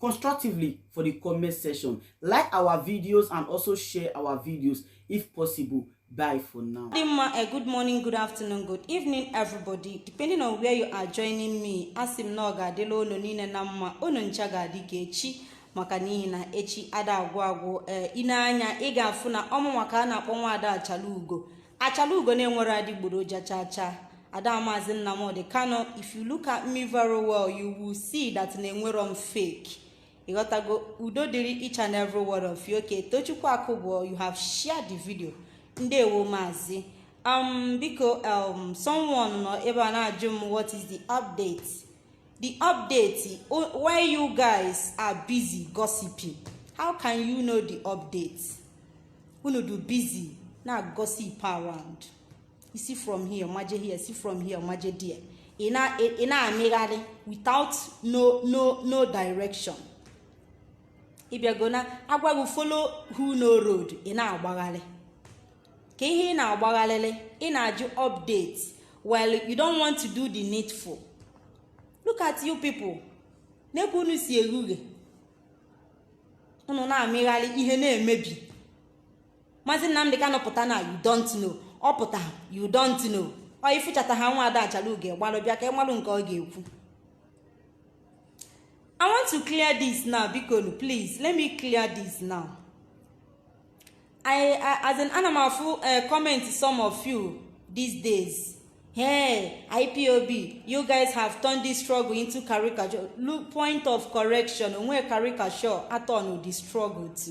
constructively for the comment section. Like our videos and also share our videos if possible. Bye for now. Eh, good morning, good afternoon, good evening, everybody. Depending on where you are joining me, asị m na ọ ga-adịla unu niile na mma, unu ncha ga-adị ka echi maka n'ihi na echi ada agwụ agwụ ee eh, ị nee anya ị ga-afụ na ọ mụwa ka a na-akpọ nwa ada achala ugo achala ugo na-enwerọ adịgboroja chaa chaa Ada Maazị Nnamdi Kanu if you look at me very well you will see that na enwerọ m fake ị ghọtago udo dịrị each and every one of you okay Tochukwu Akụbụọ you have shared the video ndewo maazị um biko um someone nọ ebe a na-ajụ m what is the update the update while you guys are busy gossiping how can you know the update unu dụ busy na-gossip around ị si from here maje here si from here maje there ị na-amịgharị without no no no direction ị bịago na a gwa gị follow who know road ị na-agbagharị kee ihe ị na-agbagharịrị ị na-ajụ update while you don't want to do the needful look at you people nee ka unu si erughe unu na-amịgharị ihe na-emebi maazị nnamdị kanụ pụta na you don't know ọ pụta you don't know ọ ị fụchata ha nwa ada achala ugo gbalụ bịa ka ị malụ nke ọ ga-ekwu i want to clear this now bikonu please let me clear this now i as in ana m afụ eh, comment some of you these days hey ipob you guys have turned this struggle into caricature look point of correction o nwe caricature a turn-ụ the struggle to.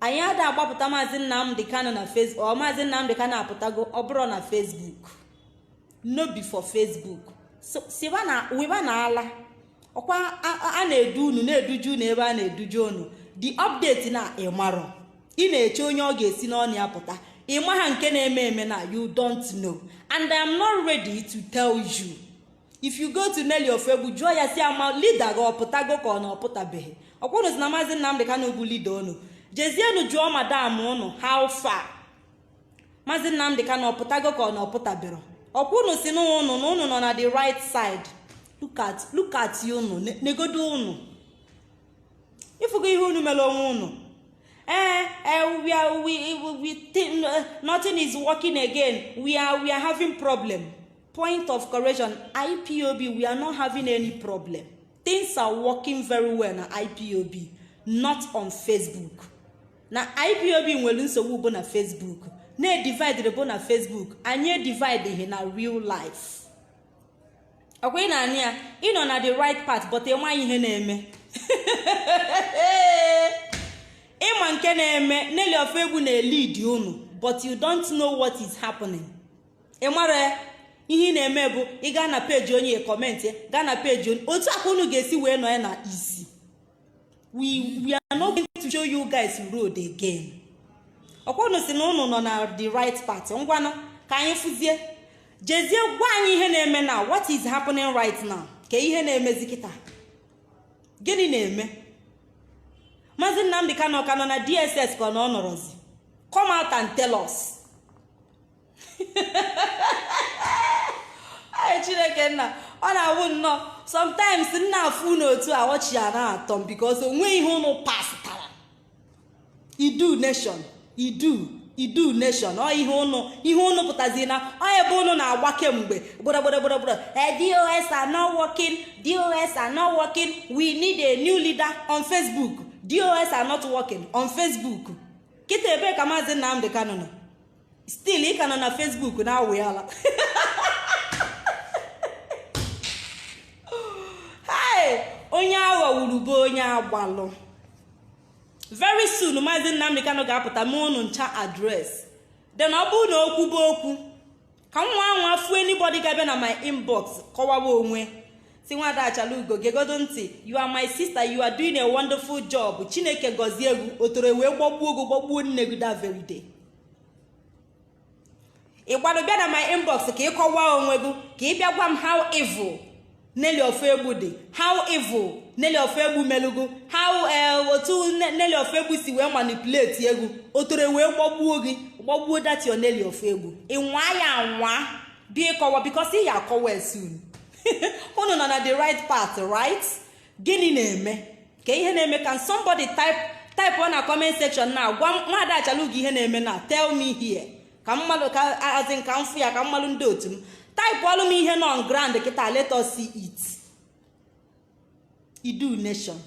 anyị ada agbapụta maazị nnamdị kanụ na facebook ọ maazị nnamdị kanụ apụtago ọ bụrọ na facebook no be for facebook siba na wibanụ ala ọkwa a na-edu unu na-eduju unu ebe a na-eduju unu the update na ị marọ ị na-eche onye ọ ga-esi n'ọnụ ya pụta ị maha nke na-eme eme na you don't know and i am not ready to tell you if you go to Nelly Ofegbu jụọ ya sị ya ma leader gị ọ pụtago ka ọ na ọ pụtabeghị ọkwa unu sị na maazị Nnamdị Kanu bụ leader unu jezienụ jụọ madam unu how far maazị Nnamdị Kanu ọ pụtago ka ọ na ọ pụtaberọ ọkwa unu sị na unu na unu nọ na the right side look at look at unu negodo unu ị fụgo ihe unu mere onwe unu eh, eh, we are, we, we think, uh, nothing is working again. We are, we are having problem. point of correction ipob we are not having any problem things are working very well na ipob not on facebook na ipob nwere nsogbu bụ na facebook na edividere bụ na facebook anyị edivideghị na real life ọkwa ị na-anya ya ị nọ na the right path but ị maghị ihe na-eme ị ma nke na-eme neli of egwu na-elid unu but you don't know what is happening ị mara ihe ị na-eme bụ ị gaa na page onye comment gaa na page onye otu aka unu ga-esi wee nọ ya na isi we we are not going to show you guys road again ọkwa unu si na unu nọ na the right path ngwanụ ka anyị fụzie jezie gwa anyị ihe na-eme na what is happening right now kee ihe na-emezi kịta gịnị na-eme maazị nnamdị kanụ ka nọ na dss ka ọ na ọ nọrọzi come out and tell us ay chineke nna ọ na-awụ nnọọ sometimes m na-afụ ụnụ otu a ọchị ya na-atọ m because onweghị ihe ụnụ pasịtara idu nation idu idu nation ọ ihe ụnụ ihe ụnụ pụtazi na ọ ebe ụnụ na-agba kemgbe gburugburugburugburu eh, dos are not working dos are not working we need a new leader on facebook dos are not working on facebook kịta ebee ka maazị nnamdị kanụ nọ still ị ka nọ na facebook na-awụyala onye aghọgburu bụ onye agbalụ very soon maazị Nnamdi Kanu ga-apụta mee unu ncha address then ọ bụrụ na o kwube okwu ka m nwa anwa fụ anybody ga-abịa na my inbox kọwawa onwe si nwada achalugo gegodu ntị you are my sister you are doing a wonderful job chineke gọzie gị otoro wee gbagbuo gị gbagbuo nne gị that very day ị gbado bịa na my inbox ka ị kọwaa onwe gị ka ị bịa gwa m how evil Nelly ofoegbu dị how evil Nelly ofoegbu melu gị how eh, otu Nelly ofoegbu si wee manipulate gị otoro wee gbagbuo gị gbagbuo that your Nelly ofoegbu ị nwa ya anwa bịa ịkọwa because ị ya akọwa soon unu nọ na the right path right gịnị na-eme kee ihe na-eme can somebody type type ọ na comment section na gwa nwaada achalugo ihe na-eme na tell me here ka mmadụ ka as in ka m fụ ya ka mmadụ ndị otu m type ọlụ m ihe nọ on ground kịta let us see it idu nation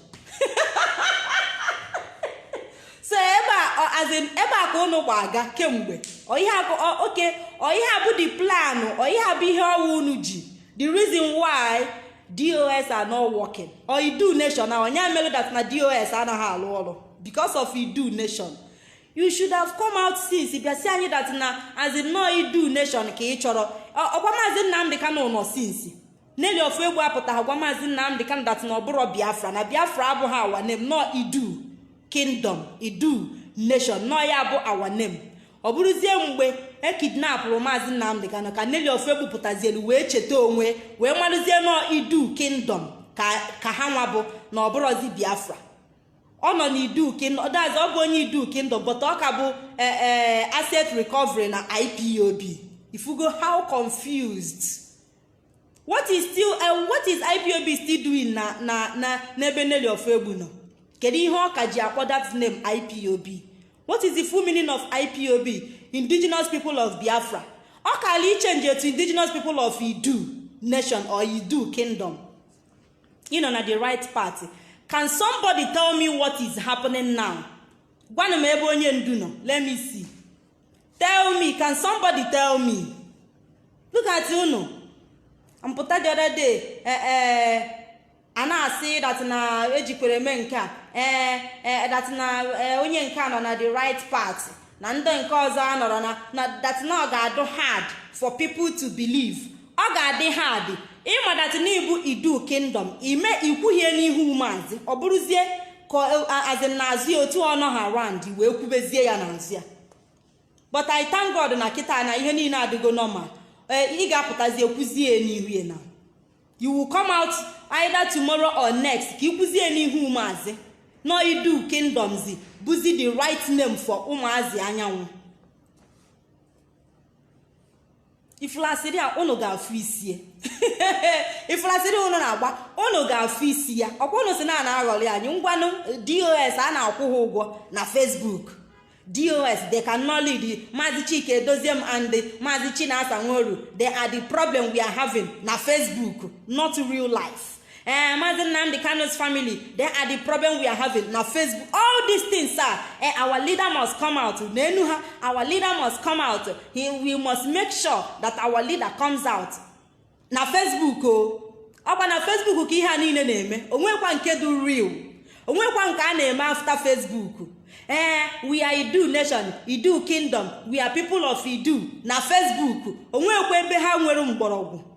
so ebe a as in ebe a ka ụnụ gba aga kemgbe ọ ihe a bụ oke ọ ihe a bụ the plan ọ ihe a bụ ihe ọwa unu ji the reason why dos are not working or idu nation na onye mere that na dos anaghị alụ ọrụ because of idu nation you should have come out since bịa sị anyị that na as in nọ idu nation ka ị chọrọ ọkwa maazị nnamdị kanụ nọ since nelly ofoegbu apụtaghị gwa maazị nnamdị kanụ that na ọ bụrọ biafra na biafra abụghị our name nọ idu kingdom idu nation nọ ya bụ our name ọ bụrụzie mgbe ekidnapụrụ maazị nnamdị kanụ ka nelly ofoegbu pụtazielu wee cheta onwe wee marụzie nọ idu kingdom ka ha nwa bụ na ọ bụrọzi biafra ọ nọ n'idu kingdom that's ọ bụ onye idu kingdom but ọ ka bụ e, e, asset recovery na ipob ị fụgo how confused what is still uh, what is ipob still doing na na na n'ebe nelly ofoegbu nọ kedu ihe ọ ka ji akpọ that name ipob what is the full meaning of ipob indigenous people of biafra ọ kaalị ichenjie to indigenous people of idu nation or idu kingdom ị nọ na the right path can somebody tell me what is happening now gwanụ m ebe onye ndu nọ let me see tell me can somebody tell me look at unu m pụta the other day eh, eh, a na-asị dat na ejikwere eme nke a ee eh, dat na onye nke a nọ na the right path na ndị nke ọzọ anọrọ na dat na ọ ga-adụ hard for people to believe ọ ga-adị hard ị ma that n'ị bụ idu kingdom ime ikwuhie n'ihu maazị ọ bụrụzie ka as in n'azụ ya otu ọ nọha around wee kwubezie ya n'azụ ya but I thank God na kịta na ihe niile adịgo normal ee ị ga-apụtazie kwuzie n'ihu ya na you will come out either tomorrow or next ka i kwuzie n'ihu maazị nọ idu kingdomzi bụzi the right name for ụmụazị anyanwụ ị fụlụ asịrị a ụnụ ga-afụ isi e ị fụlụ asịrị a ụnụ na-agba ụnụ ga-afụ isi ya ọkwa ụnụ sị na a na-aghọrị anyị ngwanụ dos a na-akwụ ha ụgwọ na facebook dos they cannot lead maazị chika edoziem and maazị chinasa nworu they are the problem we are having na facebook not real life ee eh, maazị nnamdị kanụ's family they are the problem we are having na facebook all these things are eh, our leader must come out n'enu ha our leader must come out he, we must make sure that our leader comes out na facebook o oh. ọkwa na facebook ka ihe a niile na-eme o nwekwa nke dị real o nwekwa nke a na-eme after facebook ee eh, we are idu nation idu kingdom we are people of idu na facebook o nwekwa ebe ha nwere mgbọrọgwụ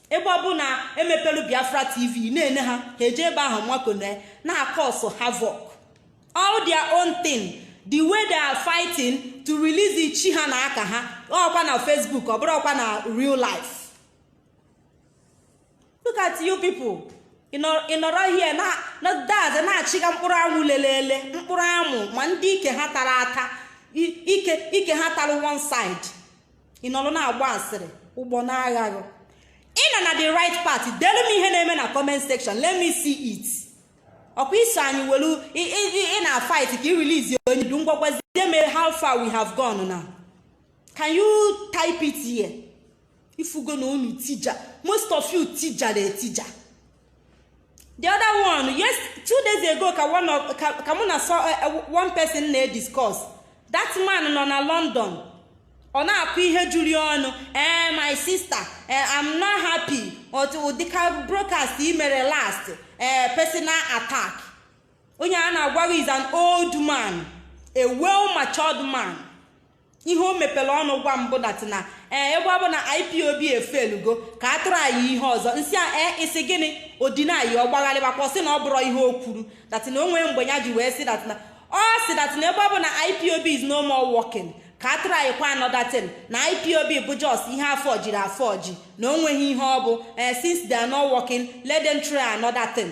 ebe ọ bụ na emepelu biafra tv na-ene ha ha eje ebe ahụ nwakone na-acause havoc all their own thing the way they are fighting to release ichi ha na aka ha ọkwa na facebook ọ bụrọkwa na real life look at you people ị nọrọ here na daz na-achịga mkpụrụ amụ lelele mkpụrụ amụ ma ndị ike ha tara ata ike ike ha tara one side ị nọrọ na-agba asịrị ụgbọ na-aghaghị ị nọ na the right path delu m ihe na-eme na comment section let me see it ọkwa i so anyị welu ị na fight ka ị release onyendu ngwa gwazie m how far we have gone now can you type it here ifugo na unu tija most of you tijara etija the other one yes two days ago ka one of ka ka mụ na so eh, eh, one person na-ediscuss that man nọ na london ọ na-akọ ihe juru ya ọnụ ee my sister eh, i'm not happy otu ụdị ka broadcast i mere last ee personal attack onye a na-agwa gị is an old man a well matured man ihe o mepere ọnụ gwa m bụ that na ee eh, ebe ọ bụ na ipob efeelugo ka a traịa ihe ọzọ m sị ya ee eh, ị sị gịnị ọ dịnaịa ọ gbagharịbakwa sị na ọ bụrọ ihe o kwuru that na o nweghị mgbe ya ji wee sị that na ọ sị that na ebe ọ bụ na ipob is no more working ka a traịkwa another thing na ipob bụ just ihe a fọjiri afọji na o nweghị ihe ọ bụ ee eh, since they are not working let them try another thing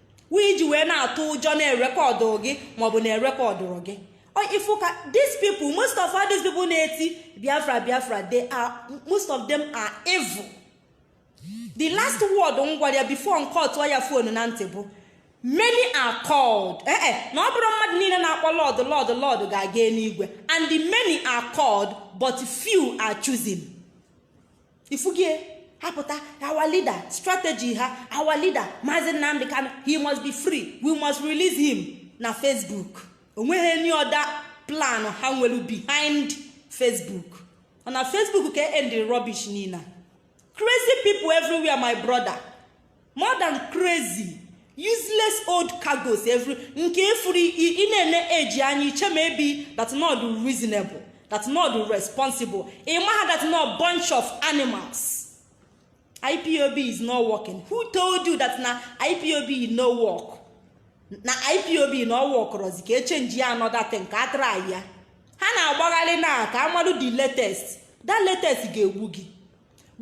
wee e ji wee na-atụ ụjọ na-erekọdụ gị maọbụ na erekọdụrọ gị ị fụkwa these people most of all these people na-eti biafra biafra they are most of them are evil the last word m gwara ya before m kọtụọ ya fonu na ntị bụ many are called ee eh, eh, na ọ bụrọ mmadụ niile na-akpọ lord lord lord ga-aga eluigwe and the many are called but few are chosen ifugie ha pụta our leader strategy ha our leader Maazị Nnamdi Kanu he must be free we must release him na Facebook onweghị any other plan ha nwelu behind Facebook ọ na Facebook ka end rubbish niine crazy people everywhere my brother more than crazy useless old cargos every nke ifuru ị na-ene eji anya i chee maybe that na ọ dụ reasonable that na ọ dụ responsible ị maha that na ọ bunch of animals ipob is not working who told you that na ipob no work na ipob na ọ wọkụrọzi ka echenji ya another thing ka a traịa ha na-agbagharị na ka amadụ the latest that latest ga-egbu gị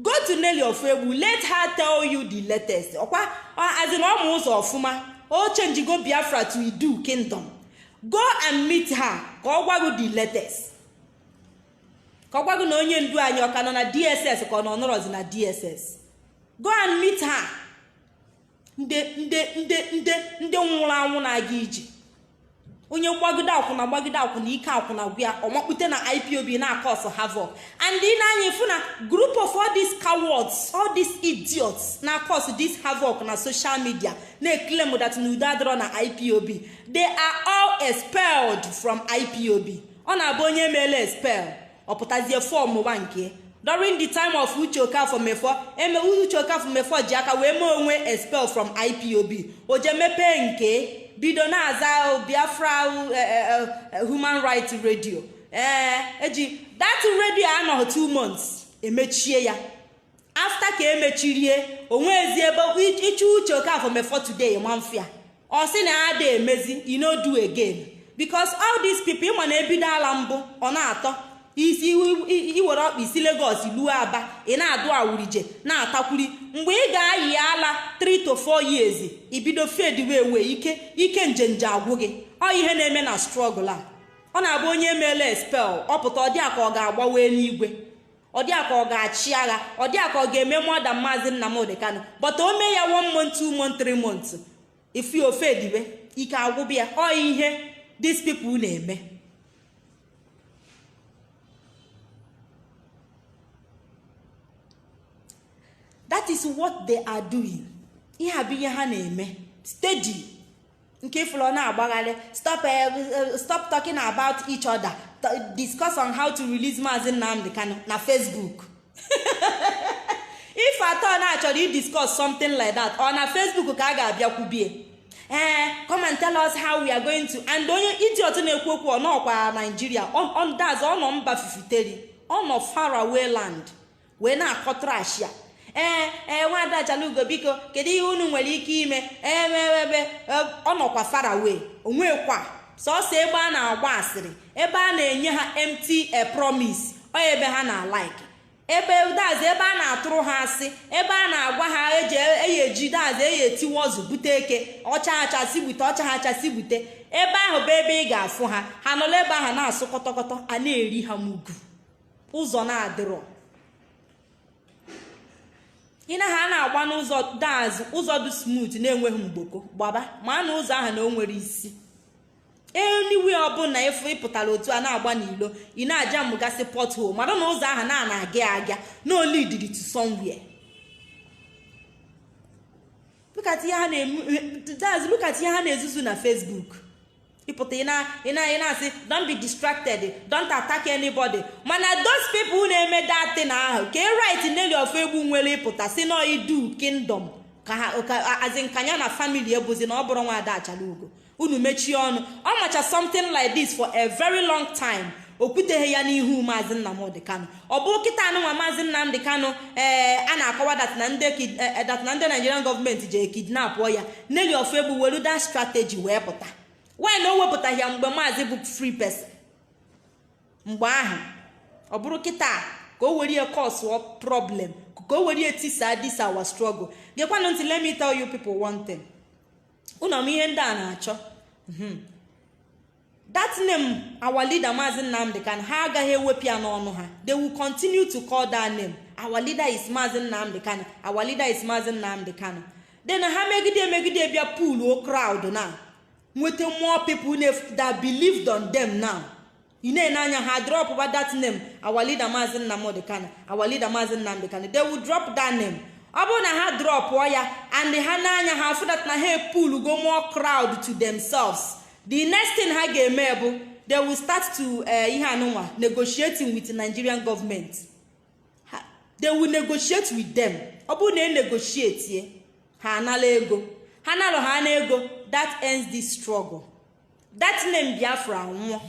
go to Nelly Ofuegbu let her tell you the latest ọkwa a sị na ọ ma ụzọ ọfụma o changego Biafra to Idu kingdom go and meet her ka ọ gwa gị the latest ka ọ gwa gị na onye ndu anyị ọ ka nọ na DSS ka ọ nọ nọrọzi na DSS go and meet her ndị ndị ndị ndị ndị nwụrụ anwụ na-aga ije onye gbagide akwụna gbagide akwụna ike akwụna gwụ ya ọ makpute na ipob na-acause havoc and ị na anyị fụ na group of all these cowards all these idiots na-acause this havoc na social media na-eclaim that na udo adịrọ na ipob they are all expelled from ipob ọ na-abụ onye e meela expel ọ pụtazie form ụwa nke during the time of Uche Okafor Mefor em Uche Okafor Mefor ji aka wee mee onwe expel from ipob o je mepee nke bido na-aza biafra eh, eh, eh, human rights radio ee eji that radio anọghị two months emechie ya after ka emechirie onwezi ebe ịchụ Uche Okafor Mefor today ma mfịa ọ sị na ya ada emezi e no do again because all these people ị ma na ebido ala mbụ ọ na-atọ isi i were ọkpa i si Lagos luo Aba ị na-adụ awurije na-atakwuri mgbe ị ga-ayị ala 3 to 4 years i bido fadewe ewe ike ike njenje agwụ gị ọ ihe na-eme na struggle a ọ na-abụ onye e meela expel ọ pụta ọ dị a ka ọ ga-agbawa enigwe ọ dị a ka ọ ga-achị agha ọ dị a ka ọ ga-eme more than maazị Nnamdi Kanu but o mee ya one month two month three months ị fụ ya o fadebe ike agwụbe ya ọ ihe these people na-eme that is what they are doing ihe a bụ ihe ha na-eme steady nke ị fụrụ ọ na-agbagharị stop eh, eh, stop talking about each other discuss on how to release Maazị Nnamdi Kanu na Facebook if at all na a chọrọ i discuss something like that ọ na Facebook ka a ga-abịa kwubie ee eh, come and tell us how we are going to and onye idiot na-ekwu okwu ọ nọọkwa Naijiria ọ nọ mba fifiteri ọ nọ far away land wee na-akọ trash ya ee eh, ee eh, nwada ajalugo biko kedu ihe unu nwere ike ime eweebe eh, ọ nọkwa far away onwekwa sọsọ ebe a na-agba asịrị ebe a na-enye ha empty promise ọ ebe ha na-alike ebe that's ebe a na-atụrụ ha asị ebe a na-agwa ha eji eyi eji that's eyi etiwe ọzụ bute eke ọcha acha si bute ọcha ha acha si bute ebe ahụ bụ ebe ị ga-afụ ha ha nọla ebe ahụ na-asụ kọtọkọtọ a na-eri ha mugu ụzọ na-adịrọ ị naghị a na-agba n'ụzọ daazụ ụzọ dị smooth na-enweghị mgboko gbaba mara na ụzọ ahụ na o nwere isi anywhere ọbụla ị fụ ị pụtara otu a na-agba n'ilo ị na-ajamụgasị pothole mara na ụzọ ahụ na a na-aga aga na ọ leadiri to somewhere look at ihe ha na-ezuzu na Facebook ịpụta ị na- ị na- ị na-asị don't be distracted don't attack anybody mana those people na-eme that thing ahụ kee right Nelly Ofoegbu nwere ịpụta sị na Iduu kingdom ka ha ka as in ka nya na family ebuzi na ọ bụrụ nwa ada Achalugo unu mechie ọnụ ọ macha something like this for a very long time o kwuteghị ya n'ihu maazị nnamdị kanụ ọ bụ kịta anụnwa maazị nnamdị kanụ ee eh, a na-akọwa dat na ndị eh, eh, Nigerian gọọmenti ji ekidnapụ ya Nelly Ofoegbu welu that strategy wee pụta why na o wepụtaghị ya mgbe maazị bụ free person mgbe ahụ ọ bụrụ kịta ka o were ya cause problem ka o were ya tisa this our struggle gekwanụ ntị let me tell you people one thing unu ma ihe ndị a na-achọ hmm. that name our leader Mazi Nnamdi Kanu ha agaghị ewepụ ya n'ọnụ ha they will continue to call that name our leader is Mazi Nnamdi Kanu our leader is Mazi Nnamdi Kanu then ha megide emegide bịa pulluo crowd na nweta more people that believed on them now ị na-ene anya ha dropụba that name our leader Mazi Nnamdi Kanu our leader Mazi Nnamdi Kanu they will drop that name ọ bụrụ na ha drọpụọ ya and ha ne anya ha afụ that na ha epullugo more crowd to themselves the next thing ha ga-eme bụ they will start to eh, ihe anụnwa negotiating with nigerian government they will negotiate with them ọ bụrụ na e negotiate ha anala ego ha nalụ ha na ego that ends this struggle that name biafra anwụọ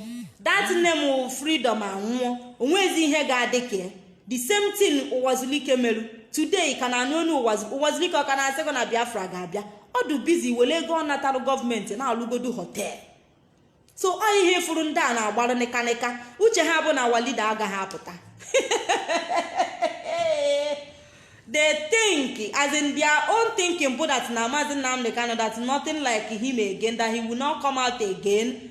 that name freedom anwụọ o nwezi ihe ga-adị ka the same thing ụwazulike meru today ka na-anụ onu ụwazulike ọ ka na-asịgo na biafra ga-abịa ọ dụ busy were ego ọ natalụ gọọmenti na-alụgodu hotel so ọ ihe furu ndị a na-agbarụ nịkanịka uche ha bụ na our leader agaghị apụta they think as in their own thinking bụ that na maazị nnamdị kanụ that nothing like him again that he will not come out again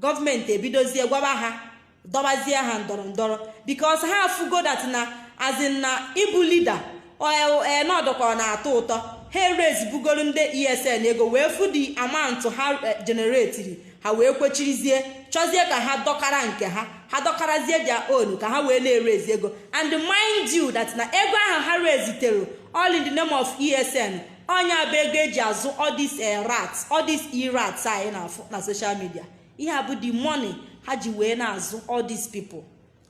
gọọmenti ebidozie gwaba ha dọbazie ha ndọrọ ndọrọ because ha afụgo that na as in na ịbụ leader na ọ dụkọ na-atọ ụtọ ha eraisibugoro ndị ESN ego wee fụ the amount ha eh, generatiri ha wee kwechirizie chọzie ka ha dọkara nke ha ha dọkarazie their own ka ha wee na-eraise ego and mind you that na ego ahụ ha raisetere all in the name of ESN ọ nya bụ ego eji azụ all this rats all this e-rats anyị na-afụ na social media ihe a bụ the money ha ji wee na-azụ all these people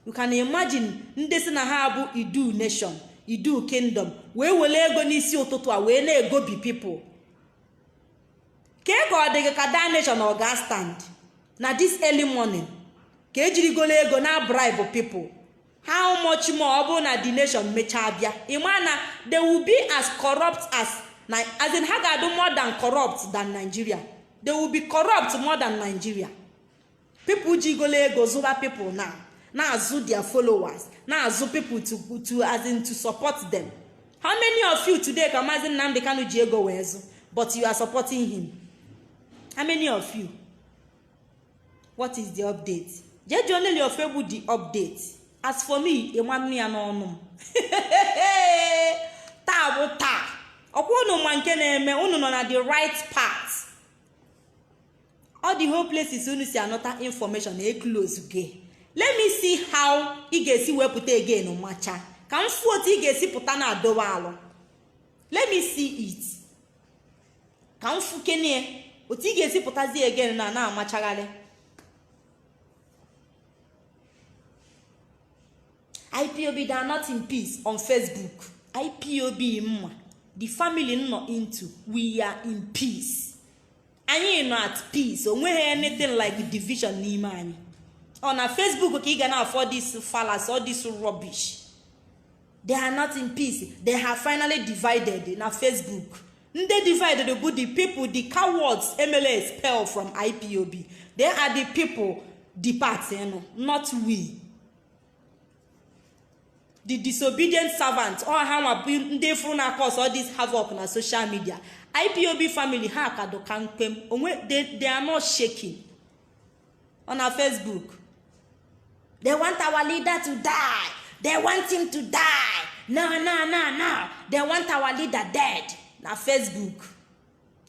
you can imagine ndị si na ha bụ idu nation idu kingdom wee wele ego n'isi ụtụtụ a wee na-egobi people kee ka ọ dị gị ka that nation ọ ga stand na this early morning ka ejirigolo ego na-abribe people how much more ọ bụrụ na the nation mechaa bịa ịma na they will be as corrupt as na as in ha ga-adụ more than corrupt than nigeria they will be corrupt more than nigeria people jigolo ego zụba people na na-azụ their followers na-azụ people to to as in to support them how many of you today ka maazị nnamdi kanu ji ego wee zụ but you are supporting him how many of you what is the update jee jụọ Nelly Ofegbu the update as for me ị ma-anụ ya n'ọnụ m taa bụ taa ọkwa unu ma nke na-eme unu nọ na the right path all the whole places unu si anọta information na e close gị let me see how ị ga-esi wee pụta again macha ka m fụ otu ị ga-esi pụta na-adowa alụ let me see it ka m fụkene ya otu ị ga-esi pụtazi again na na-amachagharị ipob they are not in peace on facebook ipob m ma the family m nọ into we are in peace anyị nọ at peace o nweghị anything like division n'ime anyị ọ na facebook ka ị ga na-afụ this fallacy all this rubbish they are not in peace they have finally divided na facebook ndị divided bụ the people the cowards emela expel from ipob they are the people depart nụ not we the disobedient servant ọ ha nwa bụ ndị fụrụ na-acause all this havoc na social media ipob family ha ka dụ kampe onwe they, they are not shaking ọ na Facebook they want our leader to die they want him to die no no no no they want our leader dead na Facebook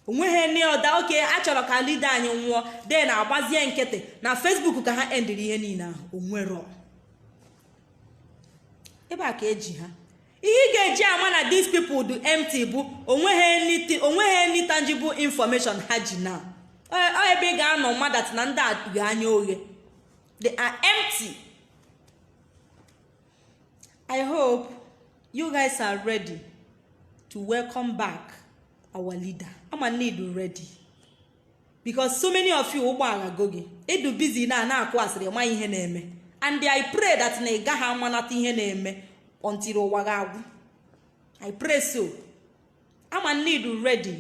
onweghị any other okay achọrọ ka leader anyị nwụọ then agbazie nkịtị na Facebook ka ha endiri ihe niile ahụ onwere ebe a ka eji ha ihe ị ga-eji ama na these people dụ empty bụ onweghị onweghị any tangible information ha ji na ọ ebe ị ga-anọ ma that na ndị a gha anya oghe they are empty i hope you guys are ready to welcome back our leader ama m na ị dụ ready because so many of you ụgbọ aghago gị ị dụ busy na na-akụ asịrị ị maghị ihe na-eme and i pray that na ị gaghị amanata ihe na-eme until ụwa gị agwụ i pray so ama ndị dụ ready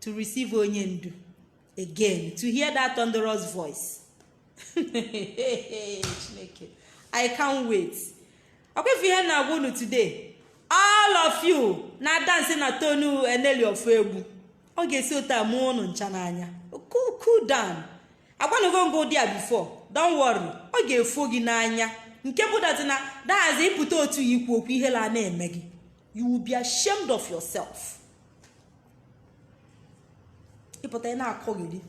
to receive onye ndu again to hear that thunderous voice chineke i can't wait ọkwa ị fụ ihe m na-agwa unu today all of you na-adance na tune Nelly Ofoegbu ọ ga-esi otu a mụọ ụnụ ncha n'anya cool down agwanago m gị ụdị a before don't worry ọ ga-efo gị n'anya nke bụ that na dahazi ịpụta otu ya ikwu okwu ihele na-eme gị you will be ashamed of yourself ịpụta ị na-akọgheri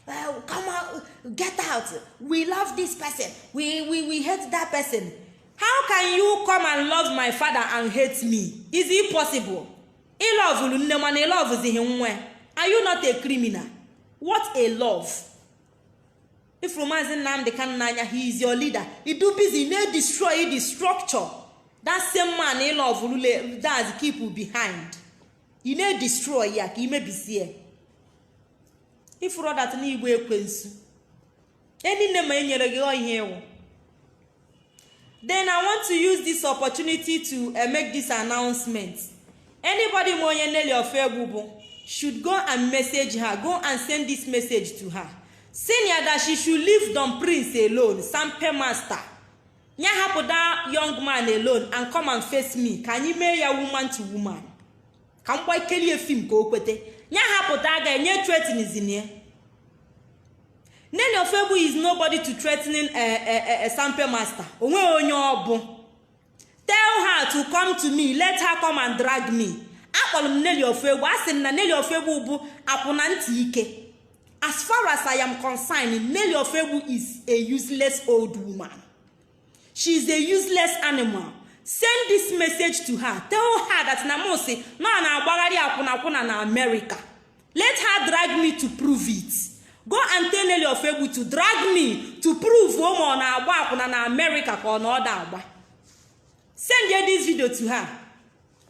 well, come out, get out. We love this person. We, we, we hate that person. How can you come and love my father and hate me? Is it possible? ị lọvụrụ nne mana ị lọvụzighị nwa ya are you not a criminal what a love ị fụrụ maazị Nnamdi Kanu n'anya he is your leader ị dụ busy na-edestroy the structure that same man ị lọvụrụ does keep behind ị na-edestroy ya ka i mebisie ị fụrọ that na ị bụ ekwensu enyi nne ma enyere gị ihe ị wụ then i want to use this opportunity to uh, make this announcement anybody ma onye Nelly Ofegbu bụ should go and message her go and send this message to her senior that she should leave Don Prince alone sampe master ya hapụ that young man alone and come and face me ka anyị mee ya woman to woman ka m gwa ikelie film ka o kwete ya hapụta aga enye threatenism ya Nelly Ofoegbu is nobody to threatening a, eh, a, eh, a, eh, a sampe master o nweghị onye ọ bụ tell her to come to me let her come and drag me akpọrọ m Nelly Ofoegbu asị m na Nelly Ofoegbu bụ akwụna ntị ike as far as i am concerned Nelly Ofoegbu is a useless old woman she is a useless animal send this message to her tell her that na m si na ọ na-agbagharị akwụnakwụna na america let her drag me to prove it go and tell Nelly Ofoegbu to drag me to prove ma ọ na-agba akwụna na america ka ọ na ọ da agba sendie this video to her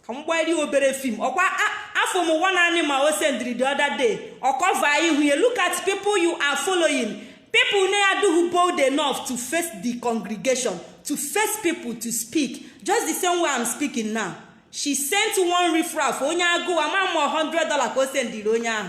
ka m gbairi obere film ọkwa afụ m one animal o sendiri the other day ọ cover ihu ya look at people you are following people na-adịghị bold enough to face the congregation to face people to speak just the same way i'm speaking now she sent one riffraff onye agụụ ama m ma 100 dollar ka o sendiri onye ahụ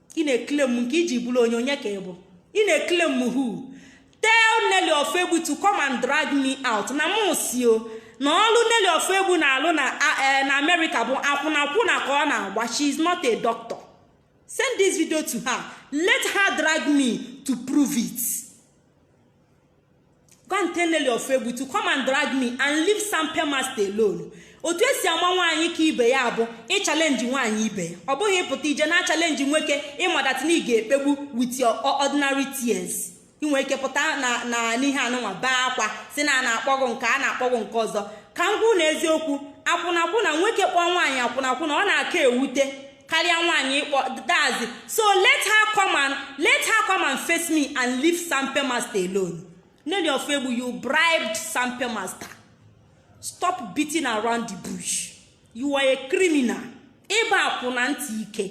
ị na-ekile m nke i ji bụrụ onye onye ka ị bụ ị na-ekile m hu tell Nelly Ofoegbu to come and drag me out na m si o na ọlụ Nelly Ofoegbu na-alụ na e, na Amerịka bụ akwụnakwụna ka ọ na-agba she is not a doctor send this video to her let her drag me to prove it. go and tell Nelly Ofoegbu to come and drag me and leave Sampe Master alone otu e si ama nwaanyị ka ibe ya bụ ịchalenji nwaanyị ibe ya ọ bụghị ịpụta ije na-achalenji nwoke ị ma that na ị ga-ekpegbu with your ordinary tears i nwe ike pụta na na n'ihe anụnwa baa akwa sị na a na-akpọ gị nke a na-akpọ gị nke ọzọ ka m kwuo na eziokwu akwụnakwụna nwoke kpọọ nwaanyị akwụnakwụna ọ na-aka ewute karịa nwaanyị ịkpọ dazi so let her come and let her come and face me and leave sampe master alone Nelly Ofoegbu you bribed sampe master stop beating around the bush you are a criminal ị bụ akwụna ntị ike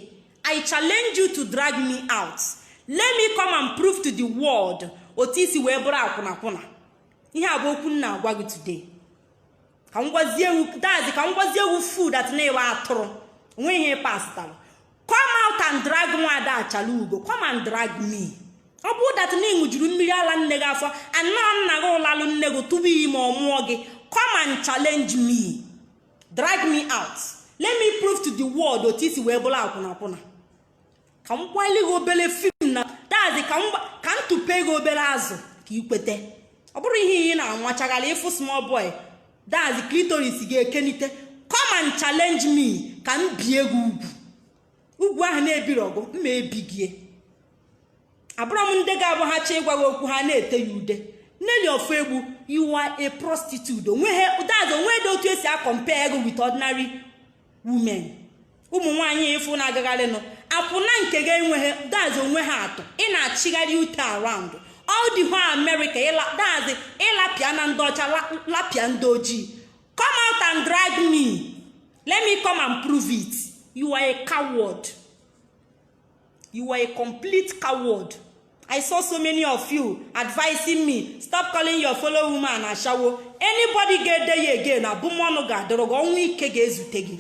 i challenge you to drag me out let me come and prove to the world otu i si wee bụrụ akwụnakwụna ihe a bụ okwu m na-agwa gị today ka m gwazie ewu dazi ka m gwazie ewu fool that na ị bụ atụrụ nweghị pastalụ come out and drag nwa ada Achalaugo come and drag me ọ bụrụ that na ị ṅụjuru mmiri ala nne gị afọ and nna gị lalụ nne gị tụba ime ọ mụọ gị come and challenge me drag me out let me prove to the world otu i si wee bụrụ akwụnakwụna ka m gbaili gị obere film na dazi ka m tụpe gị obere azụ ka ị kwete ọ bụrụ ihe ị na-anwachagharị ị fụ small boy dazi clitoris gị ekenite come and challenge me ka m bie gị ugwu ugwu ahụ na-ebiri ọgụ mma ebigie abụrọ m ndị ga-abụ ha chọọ ịgwa gị okwu ha na-ete ya ude Nelly Ofoegbu you are a prostitute o nweghị dazi o nweghị dị otu e si akọmpea gị with ordinary women ụmụ nwaanyị ị fụ na-agagharịnụ akwụna nke gị enweghị dazi o nweghị atụ ị na-achịgharị ute around all the whole America dazi ị lapịana ndị ọcha lapịa ndị ojii come out and drag me let me come and prove it you are a coward. you are a complete coward i saw so many of you advising me stop calling your fellow woman ashawo anybody ga-ede ya again abụmọnụ ga-adọrọ gị ọnwụ ike ga-ezute gị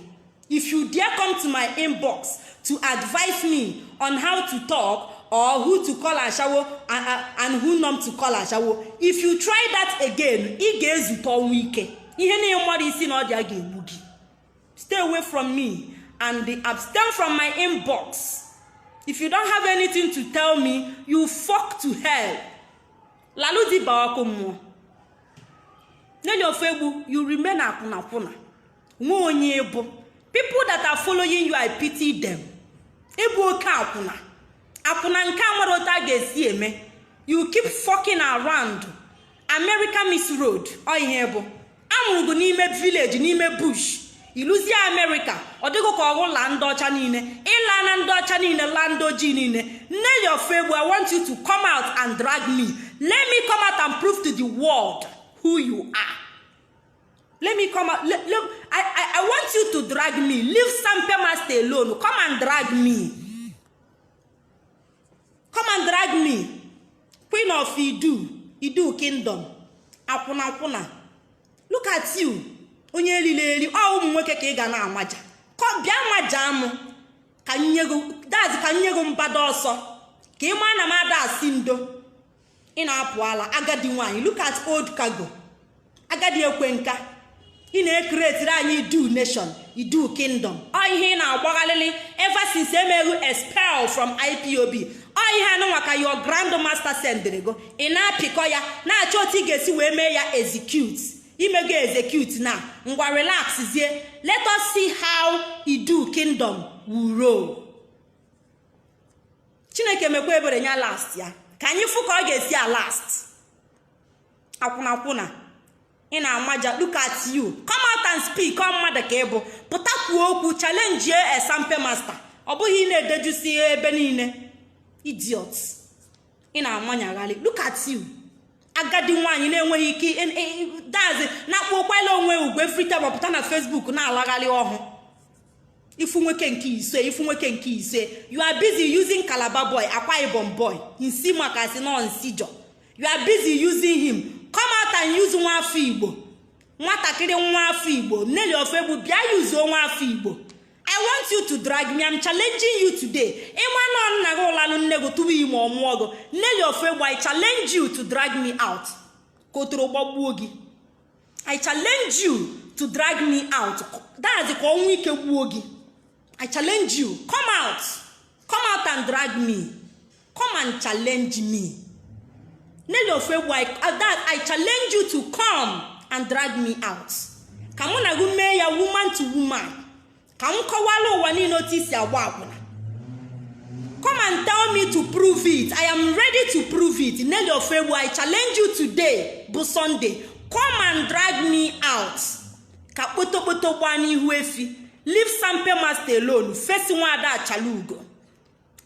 if you dare come to my inbox to advise me on how to talk or who to call ashawo and, and who not to call ashawo if you try that again ị ga-ezute ọnwụ ike ihe na ị marọ isi na ọdụ ya ga-egbu gị stay away from me and abstain from my inbox if you don't have anything to tell me you fuck to hell lalụ di baa ọkụ mmụọ Nelly Ofoegbu you remain akwụnakwụna nwe onye ị bụ people that are following you i pity them ị bụ oke akwụna akwụna nke a marọ otu a ga-esi eme you keep fucking around america miss road ọ ihe ị bụ a mụrụ gị n'ime village n'ime bush i luzie america ọ dị gị ka ọ gị laa ndị ọcha niile ị laana ndị ọcha niile laa ndị ojii niile nelly ofegbu i want you to come out and drag me let me come out and prove to the world who you are let me come out let, let, I, I, I want you to drag me leave Sampe Master alone come and drag me come and drag me queen of idu idu kingdom akwụna akwụna look at you onye elili eli ọ ụmụ nwoke ka ị ga na-amaja bịa maja m ka m nye gị mbada ọsọ ka ị maa na m ada asị ndo ị na-apụ ala agadi nwaanyị look at old cargo agadi ekwe nka ị na-ecreatiri anyị idu nation idu kingdom ọ ihe ị na-agbaghalịlị ever since e mee gị expel from ipob ọ ihe anụnwa ka your grand master sendịrị go ị na-apịkọ ya na-achọ otu ị ga-esi wee mee ya execute i mego execute now ngwa relax zie let us see how idu kingdom will roll. chineke mekwa ebere nya lastịa ka anyị fụ ka ọ ga-esi alast akwụnakwụna ị na-amaja look at you come out and speak ọ mmadụ ka ị bụ pụta kwuo okwu challengie sampe master ọ bụghị ị na-edejusi ebe niile idiot ị na-amanyagharị look at you agadi nwaanyị na-enweghị ike dazi na-akpọ kwala onwe ugwu every time ọ pụta na facebook na-alagharị ọhụ ifu nwoke nke ise ifu nwoke nke ise you are busy using calabar boy akwa ibom boy nsi maka si nọ nsijọ you are busy using him come out and use nwa afọ igbo nwatakịrị nwa afọ igbo nelly ofegbu bịa use nwa afọ igbo i want you to drag me i'm challenging you today ị ma na nna gị lalụ nne gị tụba ime ọ mụọ gị nelly ofegbu i challenge you to drag me out ka otoro gbagbuo gị i challenge you to drag me out dazi ka ọnwụ ike gbuo gị i challenge you come out come out and drag me come and challenge me nele ofu egwu that i challenge you to come and drag me out ka mụ na gị mee ya woman to woman ka m kọwala ụwa niile otu i si agba akwụna come and tell me to prove it i am ready to prove it nelly ofegbu i challenge you today bụ sunday come and drag me out ka kpotokpoto gbaa n'ihu efi leave sampe master alone face nwaada achalaugo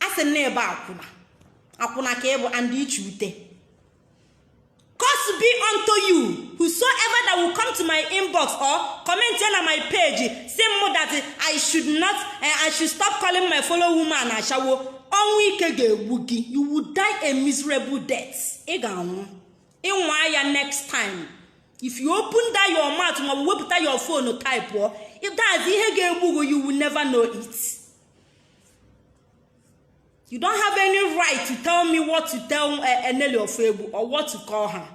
a sị na ị bụ akwụna akwụna ka ị bụ and iche ute curse be unto you whosoever that will come to my inbox or commentịa na my page sị m that i should not eh, i should stop calling my fellow woman ashawo ọnwụ ike ga-egbu gị you will die a miserable death ị ga-anwụ ị nwaa ya next time if you open that your mouth maọbụ wepụta your phone type pụọ that's ihe ga-egbu gị you will never know it. you don't have any right to tell me what to tell eh, Nelly Ofegbu or what to call her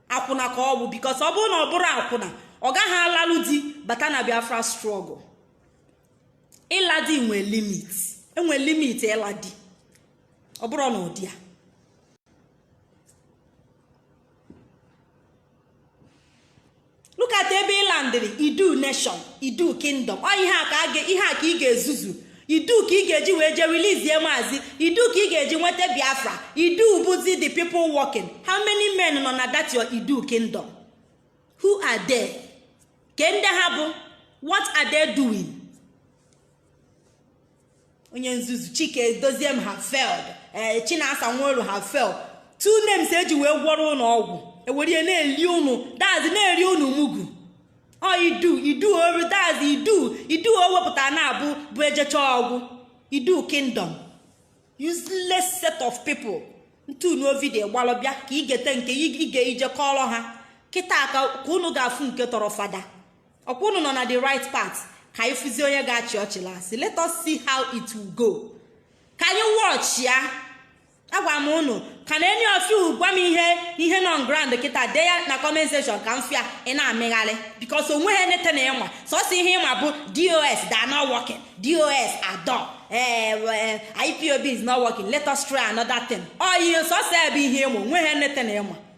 akwụna ka ọ bụ because ọ bụ na ọ bụrọ akwụna ọ gaghị alalụ di bata na biafra struggle ịla di nwe limit enwe limit ịla di ọ bụrọ n'ụdị a look at ebe ị landịrị idu nation idu kingdom ọ ihe a ka ị ga-ezuzu idu ka ị ga-eji wee jee releasie maazị idu ka ị ga-eji nweta biafra idu bụzi the people working how many men nọ na that your idu kingdom who are they kee ndị ha bụ what are they doing onye nzuzu Chika Edoziem have failed ee eh, Chinasa Nworu have failed two names eji wee gwọrọ ụnụ ọgwụ e were na-eli ụnụ that's na-eri ụnụ mugu ọ idu idu oru that's idu idu o wepụta na-abụ bụ ejecha ọgwụ idu kingdom useless set of people ntunu video gbalụ bịa ka i gete nke ị ga-eje kọọrọ ha kịta ka unu ga-afụ nke tọrọ fada ọkwa unu nọ na the right path ka anyị fụzi onye ga-achị ọchị last let us see how it will go ka anyị watch ya agwa m unu can any of you gwa m ihe nọ on ground kịta dee ya na comment section ka m fụ ya ị na-amịgharị because onweghị nothing ị ma sọsọ ihe ịma bụ DOS they are not working DOS are done ee eh, eh, ipob is not working let us try another thing ọ ihe sọsọ ya bụ ihe ịma onweghị nothing ị ma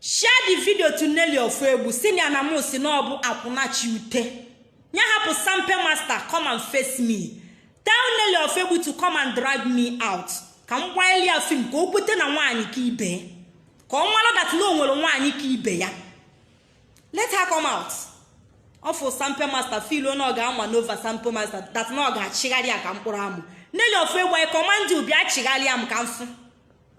share the video to Nelly Ofegbu sị nya na mụ si na ọ bụ akwụna chi ute ya hapụ sampe master come and face me tell Nelly Ofegbu to come and drag me out ka m gbanyere ya film ka o kwete na nwaanyị ka ibe ka ọ mara that na o nwere nwaanyị ka ibe ya let her come out ọ fụ sampe master feel na ọ ga maneuver sampe master that na ọ ga-achịgharị ya ka mkpụrụ amụ Nelly Ofegbu I command you bịa chịgharịa m ka m fụ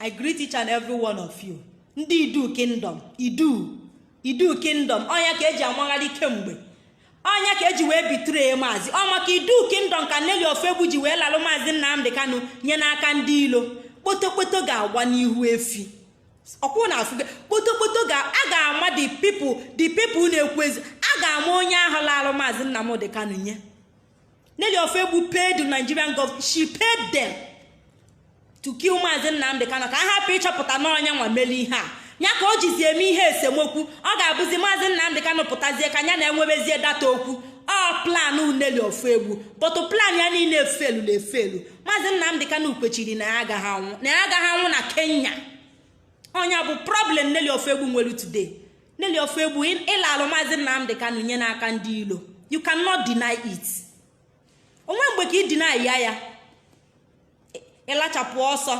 I greet each and every one of you ndị Idu Kingdom Idu Idu Kingdom ọ nya ka e ji amagharị kemgbe ọ nya ka e ji wee betray maazị ọ maka Idu Kingdom ka Nelly Ofegbu ji wee lalụ maazị Nnamdi Kanu nye n'aka ndị ilo kpotokpoto ga-agba n'ihu efi ọkwụ na afụ kpotokpoto ga a ga-ama the people the people na-ekwu ezi a ga-ama onye ahụ lalụ maazị Nnamdi Kanu nye Nelly Ofegbu paid the Nigerian government she paid them to kill Maazị Nnamdị Kanu ka a hapụ ịchọpụta na ọ nya nwa mere ihe a ya ka o jizi eme ihe esemokwu ọ ga-abụzi Maazị Nnamdị Kanu pụtazie ka ya na-enwebezie that okwu ọ plan Nelly Ofegbu but plan ya niile efelu na efelu Maazị Nnamdị Kanu kwechiri na ya agaghị anwụ na ya agaghị anwụ na Kenya ọ nya bụ problem Nelly Ofegbu nwere today Nelly Ofoegbu ịlalụ maazị Nnamdị Kanu nye n'aka ndị ilo you cannot deny it onwe mgbe ka ị deny ya ya ịlachapụ ọsọ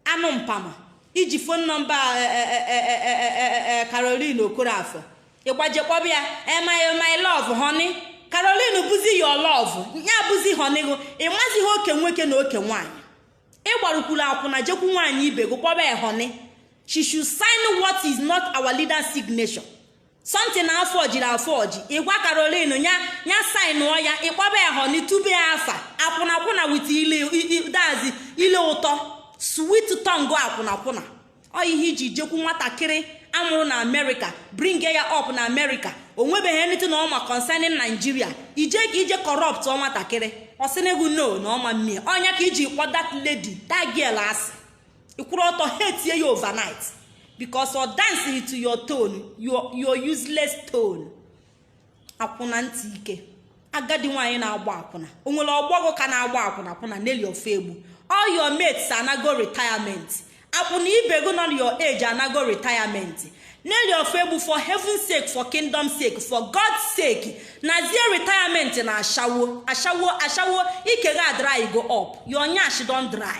anụ mpama iji phone number Caroline Okorafor ịgbaje kpọba ya my love honey Caroline bụzi your love ya bụzi honey gị ịmazighị oke nwoke na oke nwaanyị ịgbarukwuru akwụna jekwu nwaanyị ibe gị kpọba ya honey she should sign what is not our leader's signature something a forgiri a forge ịgwa Caroline ya signụọ ya ịkpọba ya honey tube ya afa akwụnakwụna with ile that's ile ụtọ sweet tongue akwụnakwụna ọ ihe iji jekwu nwatakịrị amụrụ na America bringie ya up na America o nwebeghị anything na ọma concerning Nigeria ije ka ije corruptụọ nwatakịrị ọ sị nụ gụ no na ọ ma mee ọ nya ka iji kpọ that lady that girl asị ịkwụrụ ọtọ hatie ya overnight because ọ danceghị to your tone your, your useless tone akwụna ntị ike agadi nwaanyị na-agba akwụna o nwere ọgbọ gụ ka na-agba akwụna akwụna Nelly Ofoegbu all your mates anago retirement akwụna ibe gị nọ na your age anago retirement Nelly Ofoegbu for heaven's sake for kingdom sake for God's sake nazie retirement na ashawo ashawo ashawo ike gị adrygo up your nyash don dry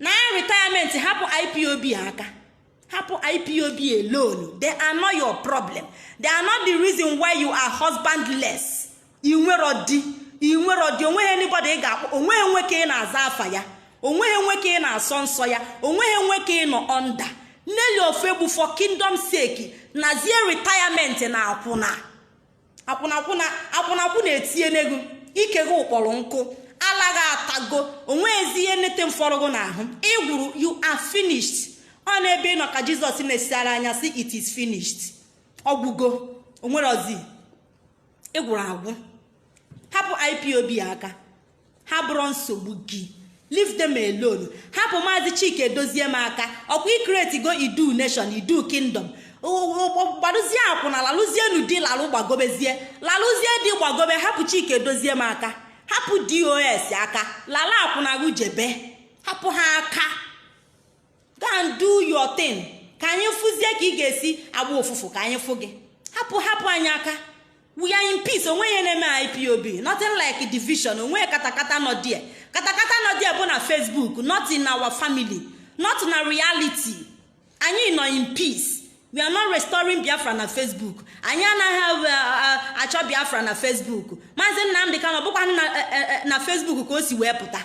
na retirement hapụ IPOB aka hapụ IPOB alone they are not your problem they are not the reason why you are husbandless inwerọ di inwerọ di onweghị anybody ị ga-akpọ onweghị nwoke ị na-aza afa ya onweghị nwoke ị na-asọ nsọ ya onweghị nwoke ị nọ under Nelly Ofoegbu for kingdom sake nazie retirement na akwụna akwụnakwụna akwụnakwụna etinye n'ego ike gụ kpọrọ nkụ ala gị atago onweghịzi ihe nete m fọrọ gụ n'ahụ ịgwụrụ you are finished ọ n'ebe ị nọ ka Jizọs nesiara anya sị it is finished ọgwụgo onwerọzi ịgwụrụ agwụ hapụ IPOB aka ha abụrọ nsogbu gị leave them alone hapụ maazị Chika Edoziem aka ọkwa ị creatego Idu nation Idu kingdom gbadozie akwụna lalụzienu di lalụ gbagobezie lalụzie di gbagobe hapụ Chika Edoziem aka hapụ DOS aka lala akwụna gụ jebe hapụ ha aka go and do your thing ka anyị fụzie ka ị ga-esi agba ụfụfụ ka anyị fụ gị hapụ hapụ anyị aka we are in peace onweghị ihe na-eme IPOB nothing like division onweghị katakata nọ die katakata nọ die bụ na facebook not in our family not na reality anyị nọ in peace we are not restoring biafra na facebook anyị anaghị uh, uh, achọ biafra na facebook maazị Nnamdị Kanu bụkwa eh, eh, eh, na facebook ka o si wee pụta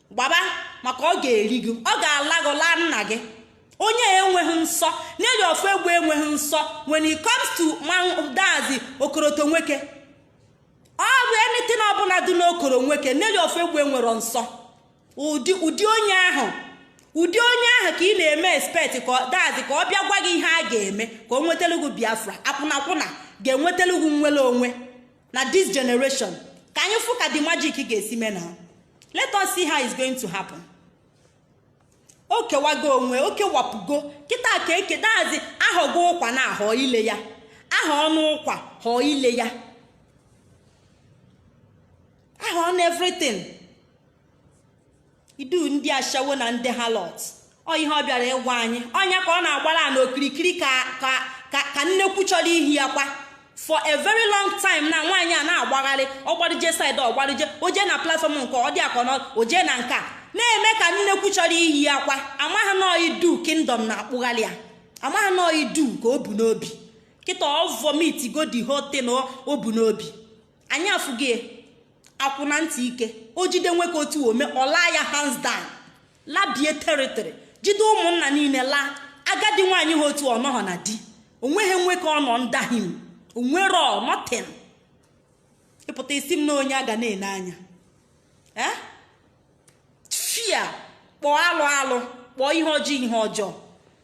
gbaba maka ọ ga-eri gị ọ ga-ala gị laa nna gị onye enweghị nsọ nelly ofoegbu enweghị nsọ when it comes to that's okoroto nwoke ọ bụ anything ọbụla dị n'okoro nwoke nelly ofoegbu enwero nsọ ụdị ụdị onye ahụ ụdị onye ahụ ka ị na-eme expect ka that's ka ọ bịa gwa gị ihe a ga-eme ka o nwetalụ gị biafra akwụnakwụna ga-enwetalụ gị nnwere onwe na this generation ka anyị fụ ka the magic ga-esi mee na let us see how it's going to happen o kewago onwe o kewapụgo kịta ka eke that's ahọgo ụkwa na ahọ ile ya aha ọnụ ụkwa họọ ile ya aha ọnụ everything idu ndị ashawo na ndị harlot ọ ihe ọ bịara ịgwa anyị ọ nya ka ọ na-agbara na okirikiri ka nnekwu chọrọ iyi akwa for a very long time na nwaanyị a na-agbagharị ọ gbara je side ọ gbara je o je na platform nke ọ dị akọ o je na nke a na-eme ka nnekwu chọrọ iyi akwa amaghị na idu kingdom na-akpụgharị ya amaghị na idu ka o bu n'obi kịta ọ vomit go the whole thing o bu n'obi anyị afụghị akwụna ntị ike o jide nwoke otu o me ọ laa ya hands down labie territory jide ụmụnna niile laa agadi nwaanyị ha otu ọ nọghọ na di onweghị nwoke ọ nọ under him o nwero nothing ị pụta ị sị m na onye a ga na-ene anya eh? fia kpọọ alụ alụ kpọọ ihe ọjọọ ihe ọjọọ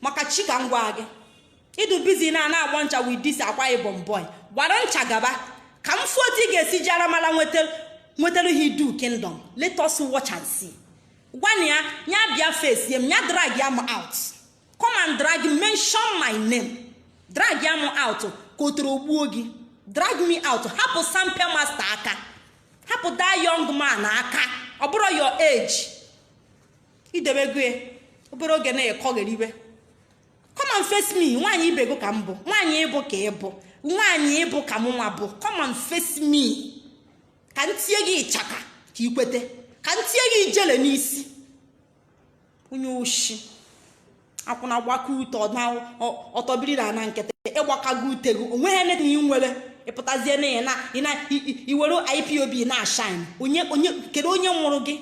maka chi ka m gwa gị ị dụ busy na na-agba ncha with this akwa ibom boy gbara ncha gaba ka m fụ otu ị ga-esi ji aramara nwetara ha idu kingdom let us watch and see gwana ya ya bịa face m ya drag ya m out come and drag mention my name drag ya m out ka ọtọrọ gbuo gị drag me out hapụ sampe master aka hapụ that young man aka ọ bụrọ your age e debe gị obere oge na ị kọgheriwe come and face me nwaanyị ibe gị ka m bụ nwaanyị ị bụ ka ị bụ nwaanyị ị bụ ka mụnwa bụ come and face me ka m tie gị ịchaka ka ị kwete ka m tie gị ijele n'isi onye oshi akwụna gbaka ute ọ tọbiri na ana nkịtị ị gbakago ute gị onweghị ihe na ị nwere ị pụtazie na ị were ipob na-ashine kedu onye mụrụ gị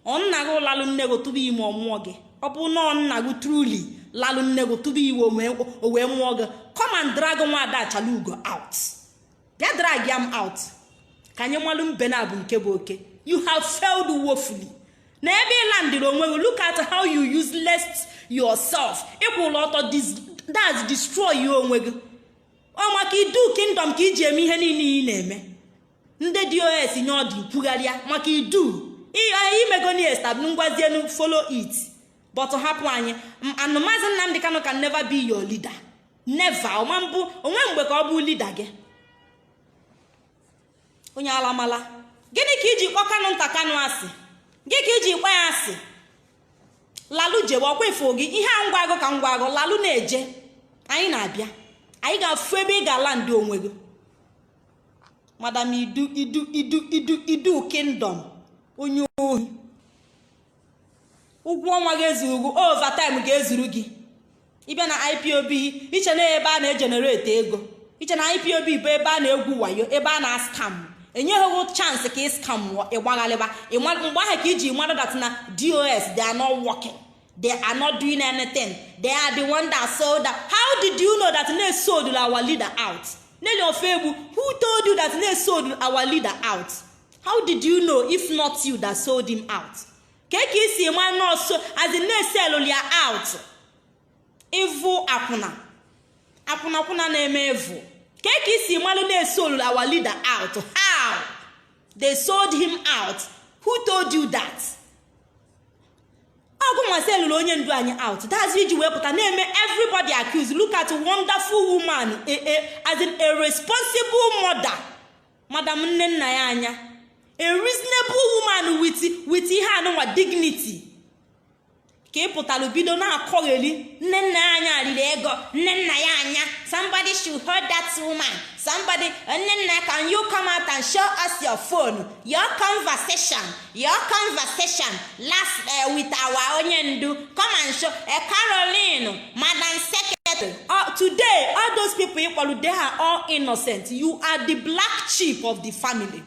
ọ nna gị lalụ nne gị tụba ime ọ mụọ gị ọ bụ na nna gị truly lalụ nne gị tụba ime o wee mụọ gị come and drag nwada achalugo out bịa drag ya m out ka anyị malụ mbe naabọ nke bụ oke you have failed woefully nee ebe ị landịrị onwe gị look at how you useless yourself ị kwụlụ ọtọ that's destroy ya onwe gị ọ maka idu kingdom ka i ji eme ihe niile ị na-eme ndị dos nye ọdụ kwugharịa maka idu imegoni estab ngwazienu follow it but hapụ anyị and mazị nnamdị kanụ can never be your leader never ọma mbụ onwe mgbe ka ọ bụ leader gị onye alamala gịnị ka iji kpọ kanụnta kanụ asị gị ka iji kpọ ya asị lalụ jewe ọkwa ifo gị ihe a m gwa gụ ka m gwa gụ lalụ na-eje anyị na-abịa anyị ga-afụ ebe ị ga-ala ndị onwe gị madam idu idu kingdom onye ohi ụgwọ ọnwa ga-ezuru gị overtime ga-ezuru gị ịbịa na ipob iche na ebe a na-egenerate ego iche na ipob bụ ebe a na-egwu wayo ebe a na-ascam enyeghị chance ka ị scam ịgbagharịba mgbe ahụ ka iji madụ that na dos they are not working they are not doing anything they are the one that sold out how did you know that they sold our leader out neli ofegbu who told you that they sold our leader out how did you know if not you that sold him out ka ka isi ma nọọsụ as in na-eselu ya out ịvụ akwụna akwụnakwụna na-eme evu ka ka isi malụ na-esolu our leader out how they sold him out who told you that ọ gụnwa sellụrụ onye ndu anyị out that's why iji wee pụta na-eme everybody accused look at wonderful woman a, a, as in a responsible mother madam nnennaya anya a reasonable woman with with ihe anụnwa dignity ka ị pụtara bido na-akọgheli nnennaya anya riri ego nnennaya anya somebody should hold that woman somebody nnenna can you come out and show us your phone your conversation Your conversation last uh, with our onye ndu come and show uh, Caroline Madam Secretary uh, today all those people ịkpọrọ they are all innocent you are the black sheep of the family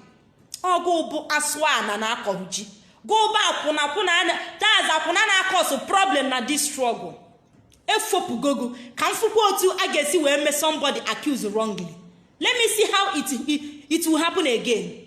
ọ gụ bụ asụ a na na-akọrọ ji gụ bụ akwụna kwụna anya that's akwụna na-acause problem na this struggle efopugo gụ ka m fụkwa otu a ga-esi wee mee somebody accuse wrongly let me see how it, it, it will happen again.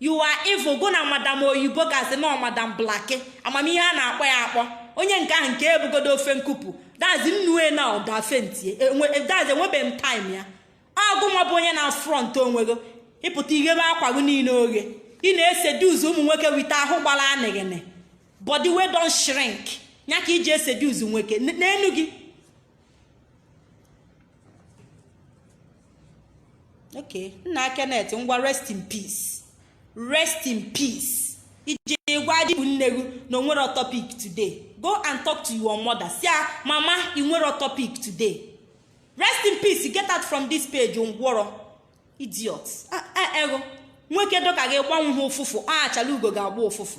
you are evil gụ na madam oyibo ka asị na madam blaki amamihe a na-akpọ ya akpọ onye nke ahụ nke ebugodo ofe nkupụ that's nnue na dafentie that's enwebeghị m time ya ọ gụnwa bụ onye na front onwego ịpụta ighebe akwa gị niile oghe ị na-eseduce ụmụ nwoke with ahụ gbara anịghịnị body wey don shrink ya ka iji eseduce nwoke n'enu gị okay nna Kenneth ngwa rest in peace rest in peace i je gwadị nne gị na onwere topic today go and talk to your mother sị ya mama ị nwere topic today rest in peace get out from this page ngwọrọ idiot eghu nwoke dụ ka gị gbanwe ha ụfụfụ achalugo ga-agba ụfụfụ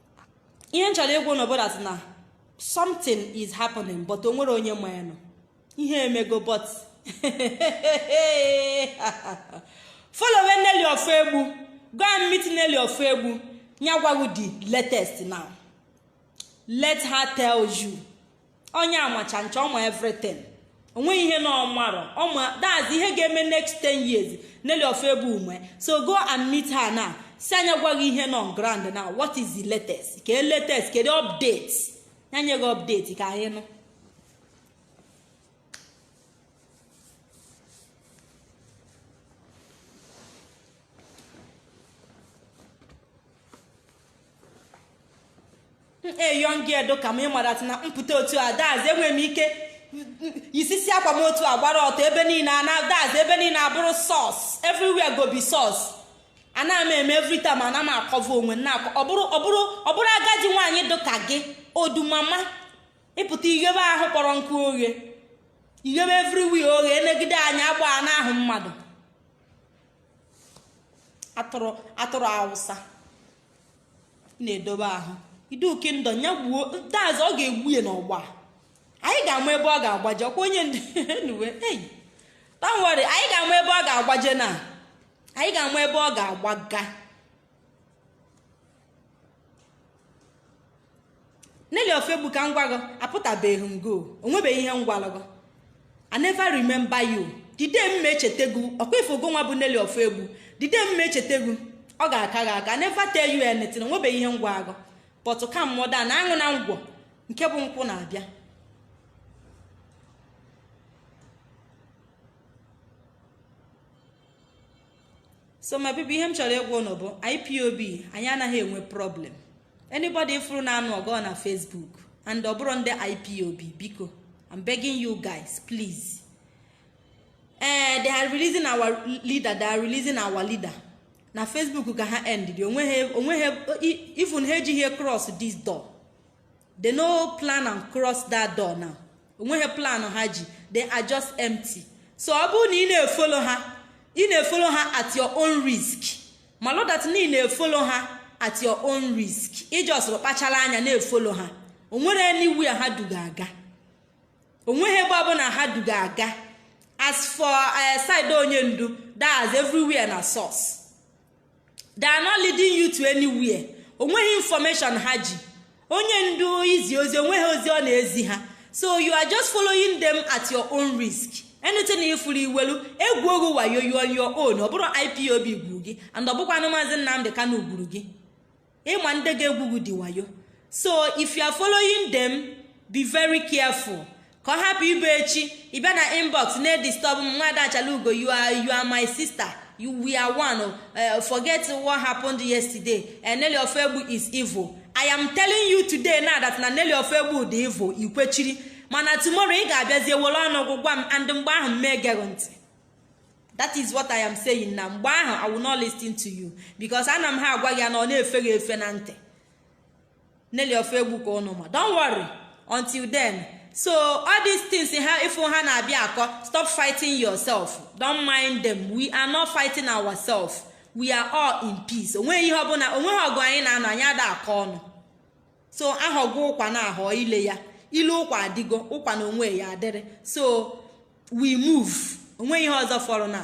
ihe m chọrọ ịgwa unu bụ that's na something is happening but o nwere onye ma ya nọ ihe emego but follow Nelly ofoegbu go and meet Nelly ofoegbu nya gwa gụ the latest now let her tell you onye amacha ncha ọma everything onweghị ihe na ọ marọ ọ ma that's ihe ga-eme next 10 years Nelly Ofoegbu ume so go and meet her now sị a nya gwa gị ihe nọ ground now what is the latest kee latest kedu update ya nye gị update ka anyị nụ a young girl dịka m ị maratụ na m pụta otu a that's enwere m ike isisi akwa m otu a gbara ọtọ ebe niile ana that's ebe niile abụrụ sauce everywhere go be sauce ana m eme every time ana m a-cover onwe na ọbụrụ agadi nwaanyị dịka gị ọ dụ mma ma ị pụta i ghebe ahụ kpọrọ nkụ oghe i ghebe everywhere oghe enegide anya agba na ahụ mmadụ atụrụ atụrụ awụsa ị na-edobe ahụ Iduu kingdom ya gbuo that's ọ ga-egbu ya n'ọgba anyị ga-ama ebe ọ ga-agbaje ọkwa onye nduwe ei don't worry anyị ga-ama ebe ọ ga-agbaje na anyị ga-ama ebe ọ ga-agbaga Nelly Ofoegbu ka m gwa gị apụtabeghị m go onwebeghị ihe m gwara gị I never remember you the day m ma echeta gị ọkwa ife ogo nwa bụ Nelly Ofoegbu the day m ma echeta gị ọ ga-aka gị aka I never tell you anything onwebeghị ihe m gwara gị but ka m nọdụ na-aṅụ na ngwọ nke bụ nkwụ na-abịa so my people ihe m chọrọ ịgwa ụnụ bụ ipob anyị anaghị enwe problem anybody ị fụrụ na-anụ ọgụ na facebook and ọ bụrọ ndị ipob biko i'm begging you guys please ee eh, they are releasing our leader they are releasing our leader na facebook ka ha endị onweghị even ha ejighị cross this door they no plan and cross that door now onweghị plan ha ji they are just empty so ọ bụrụ na ị na-efollow ha ị na-efollow ha at your own risk malụ that na ị na-efollow ha at your own risk ị just kpachara anya na-efollow ha onwerọ anywhere ha du gị aga onweghị ebe ọbụla ha du gị aga as for eh, side onye ndu that's everywhere na sauce they are not leading you to anywhere onweghị information ha ji onye ndu izi ozi onweghị ozi ọ na-ezi ha so you are just following them at your own risk anything ị fụrụ i welụ e gbuo gị OYO you on your own ọ bụrọ ipob gburu gị and ọ bụkwanụ maazị nnamdi kanu gburu gị ịma ndị ga-egbu gị dị wayo so if you are following them be very careful ka ọ hapụ ịbụ echi ị bịa na inbox na-edisturb m nwaada achala ugo you are you are my sister you we are one uh, forget what happened yesterday uh, eh, Nelly Ofegbu is evil I am telling you today now that na Nelly Ofegbu dị evil ikwechiri mana tomorrow ị ga-abịazi ewere ọnụ gị gwa m and mgbe ahụ m mee gere ntị that is what i am saying na mgbe ahụ i will not listen to you because ana m ha agwa gị ya now ọ na-efe gị efe na ntị Nelly Ofegbu ka ụnụ ma don't worry until then so all these things ha ife ha na-abịa akọ stop fighting yourself don't mind them we are not fighting ourselves we are all in peace onweghị ihe ọbụla onweghị ọgụ anyị na-anụ anyị ada akọ ọnụ so ahọgo ụkwa na ahọ ile ya ile ụkwa adịgo ụkwa na onwe ya adịrị so we move onweghị ihe ọzọ fọrọ na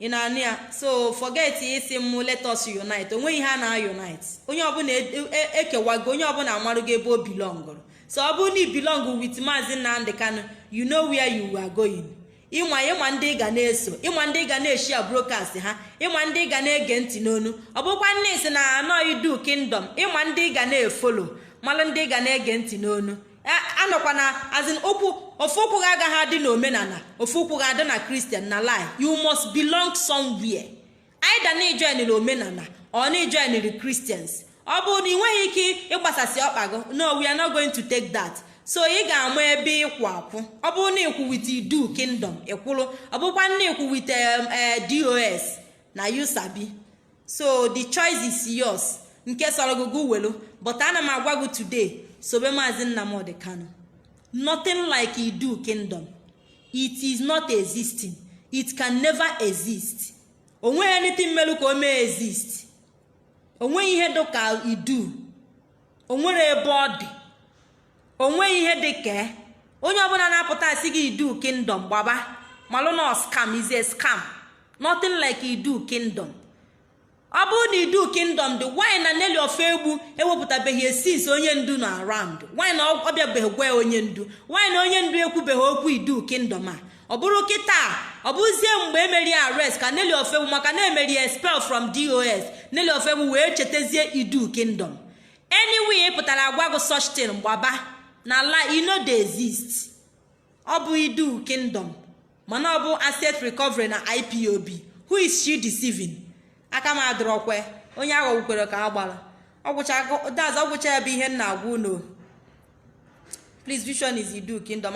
ị na-anụ ya so forget ị sị m let us unite onweghị ihe a na unite onye ọbụla e, e, ekewago onye ọbụla amarugo ebe o belongụrụ so ọ bụrụ na ị belong with maazị nnamdị kanu you know where you are going ịma ịma ndị ị ga na-eso ịma ndị ị ga na-eshare broadcast ha ịma ndị ị ga na-ege ntị n'ọnụ ọ bụkwa na ị sị na anọ idu kingdom ịma ndị ị ga na-efollow malụ ndị ị ga na-ege ntị n'ọnụ anọkwana as in ụkwụ ofu ụkwụ gị agaghị adị na omenala ofu ụkwụ gị adị na christian na lie you must belong somewhere either na ị joinịrị omenala or na ị joinịrị christians ọ bụrụ na ị nweghị ike ịgbasasị ọkpa gị no we are not going to take that so ị ga-ama ebe ịkwụ akwụ ọ bụrụ na ịkwụ with idu kingdom ịkwụrụ ọ bụkwa na ịkwụ with um, eh, dos na you sabi so the choice is yours nke sọrọ gị welu but ana m agwa gị today sobe maazị nnamdị kanu nothing like idu kingdom it is not existing it can never exist onweghị anything melu ka o mee exist onweghị ihe dị ka idu onwere ebe ọ dị onweghị ihe dị ka e. onye ọbụla na-apụta asị gị idu kingdom gbaba malụ na ọ scam is a scam nothing like idu kingdom ọ bụrụ na idu kingdom dị why na Nelly Ofegbu ewepụtabeghị ya since onye ndu nọ around why na ọ bịabeghị gwa onye ndu why na onye ndu ekwubeghị okwu idu kingdom a ọ bụrụ kịta ọ bụzie mgbe emeri arrest ka Nelly Ofegbu maka na emeri expel from dos Nelly Ofegbu wee chetazie idu kingdom anywhere pụtara agwa gụ such thing gbaba na lie e no dey exist ọ bụ idu kingdom mana ọ bụ asset recovery na ipob who is she deceiving aka m adịrọkwe onye aghọgbukwere ka a gbara that's ọgwụcha ya bụ ihe m na-agwa unu please vision is idu kingdom